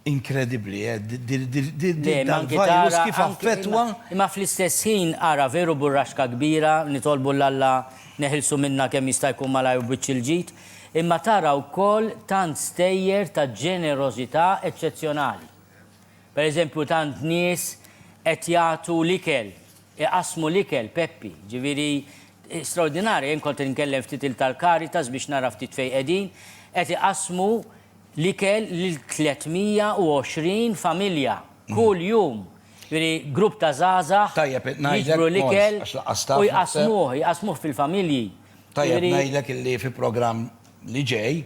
Inkredibbli, eh, dal-virus kif affettwa. Imma fl-istess ħin, ara, veru burraxka kbira, nitolbu 'l Alla neħilsu minnha kemm jista' jkun malajr u b'wiċċ il-ġid, imma tara wkoll tant stejjer ta' ġenerożità eċċezzjonali. Per eżempju, tant nies qed jagħtu l-ikel, iqassmu l-ikel, Peppi, ġifieri straordinarja. Jien kont qed inkellem ftit il-tal-Caritas biex nara ftit fejn qegħdin, qed iqassmu l-ikel lil 320 familja kull jum. Jiġifieri grupp ta' żgħażagħ jiġbru l-ikel u jqassmuh, jqassmuh fil-familji. Tajjeb ngħidlek illi fi programm li ġej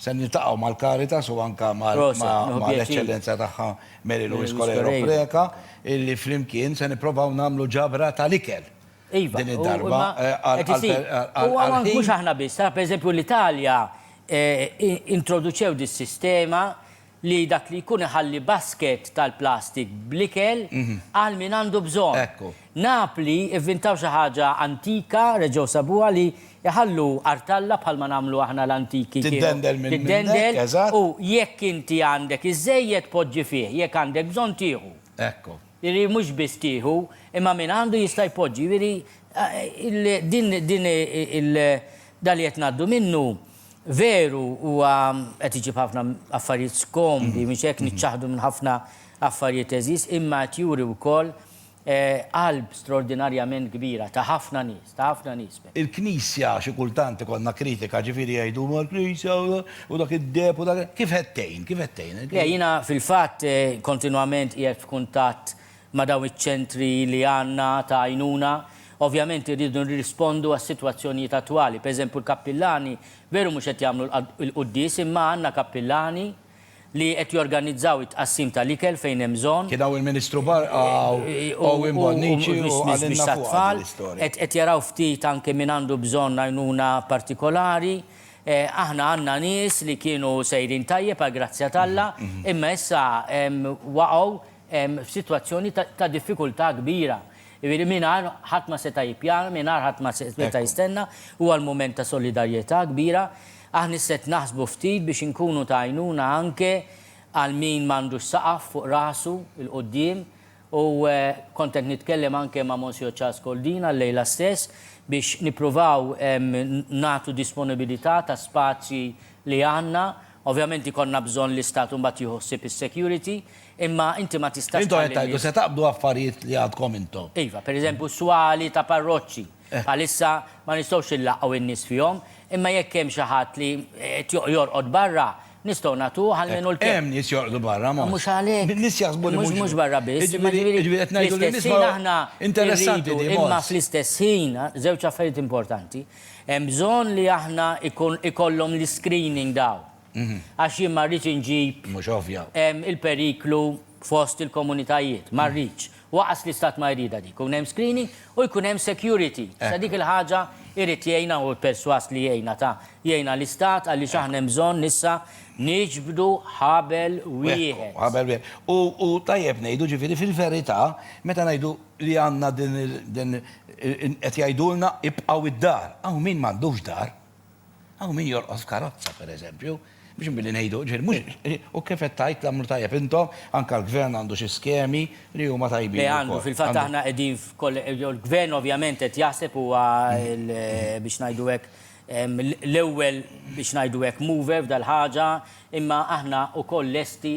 se niltaqgħu mal-Caritas u anke mal-Eċċellenza tagħha Mary Louise Coleiro Preca illi flimkien se nipprovaw nagħmlu ġabra tal-ikel. Iva, u għawnek mhux aħna biss, tara pereżempju l-Italja introduċew dis-sistema li dak li jkun iħalli basket tal-plastik bl-ikel għal min għandu bżonn. Napli vvintaw xi ħaġa antika, reġgħu sabuha li jħallu artalla bħalma nagħmlu aħna l-antiki kienu. Tiddendel minn dendel, eżatt. U jekk inti għandek iżżejjed poġġi fih, jekk għandek bżonn tieħu. Ekku. Jiġifieri mhux biss tieħu, imma min għandu jista' jpoġġi. Jiġifieri din din il dan li qed ngħaddu minnu veru huwa qed iġib ħafna affarijiet skomdi, mhux hekk, niċċaħħdu minn ħafna affarijiet għeżież, imma qed juri wkoll qalb straordinarjament kbira ta' ħafna nies, ta' ħafna nies. Il-Knisja, xi kultant ikollna kritika, ġifieri jgħidu huma l-Knisja u dak id-deheb u dak, kif qed tgħin, kif qed tgħin? Le, jiena fil-fatt kontinwament qiegħed f'kuntatt ma' dawn iċ-ċentri li għandna ta' għajnuna. Ovvjament irridu nirrispondu għas-sitwazzjonijiet attwali. Pereżempju l-kappillani veru mhux qed jagħmlu l-quddies imma għandna kappillani, li qed jorganizzaw it-tqassim tal-ikel fejn hemm bżonn. Kien hawn il-Ministru Barqa u Owen Bonnici u qalilna fuqha din l-istorja. Qed jaraw ftit anke min għandu bżonn għajnuna partikolari. Aħna għandna nies li kienu sejrin tajjeb għall-grazzja t'Alla, imma issa waqgħu f'sitwazzjoni ta' diffikultà kbira. Jiġifieri mingħajr ħadd ma seta' jippjana, mingħajr ħadd ma seta' jistenna, huwa l-mument ta' solidarjetà kbira. Aħna isset naħsbu ftit biex inkunu ta' għajnuna anke għal min m'għandux saqaf fuq rasu 'l quddiem u kont qed nitkellem anke ma' Monsiur Charles Coldina llejla stess biex nippruvaw nagħtu disponibilità ta' spazji li għandna. Ovvjament ikollna bżonn l-Istat imbagħad jieħu ħsieb is-security imma inti ma tistax tħalli n-nies. Intom qed tgħidu se taqbdu affarijiet li għandkom intom. Iva, pereżempju swali ta' parroċċi. Bħalissa ma nistgħux inlaqqgħu n-nies fihom, imma jekk hemm xi ħadd li qed jorqod barra, nistgħu nagħtuh almenu l-kelma. Hemm nies jorqdu barra, Mons. Mhux għalhekk. Nies jaħsbu li mhux. Mhux barra biss, imma jiġifieri fl-istess ħin aħna rridu, imma fl-istess ħin, żewġ affarijiet importanti, hemm bżonn li aħna jkollhom l-iscreening dawn. Għax jien ma rridx inġib il-periklu fost il-komunitajiet, ma rridx. Waqas li stat ma jridha dik. Jkun hemm screening u jkun hemm security. Issa dik il-ħaġa jrid jgħinha u persważ li jgħinha ta' jgħinha l-istat għaliex aħna hemm bżonn issa niġbdu ħabel wieħed. Ħabel wieħed. U tajjeb ngħidu ġifieri fil-verità meta ngħidu li għandna din qed jgħidulna ibqgħu d-dar. Hawn min m'għandux dar. Hawn min jorqos f'karozza, pereżempju, biex billi ngħidu, ġifieri mhux, u kif qed tgħid tagħmlu tajjeb intom, anke l-Gvern għandu xi skemi li huma tajbin ukoll. Le għandu, fil-fatt aħna qegħdin, jew l-Gvern ovvjament qed jaħseb huwa l, biex ngħidu hekk, l-ewwel, biex ngħidu hekk, mover f'dal-ħaġa, imma aħna ukoll lesti,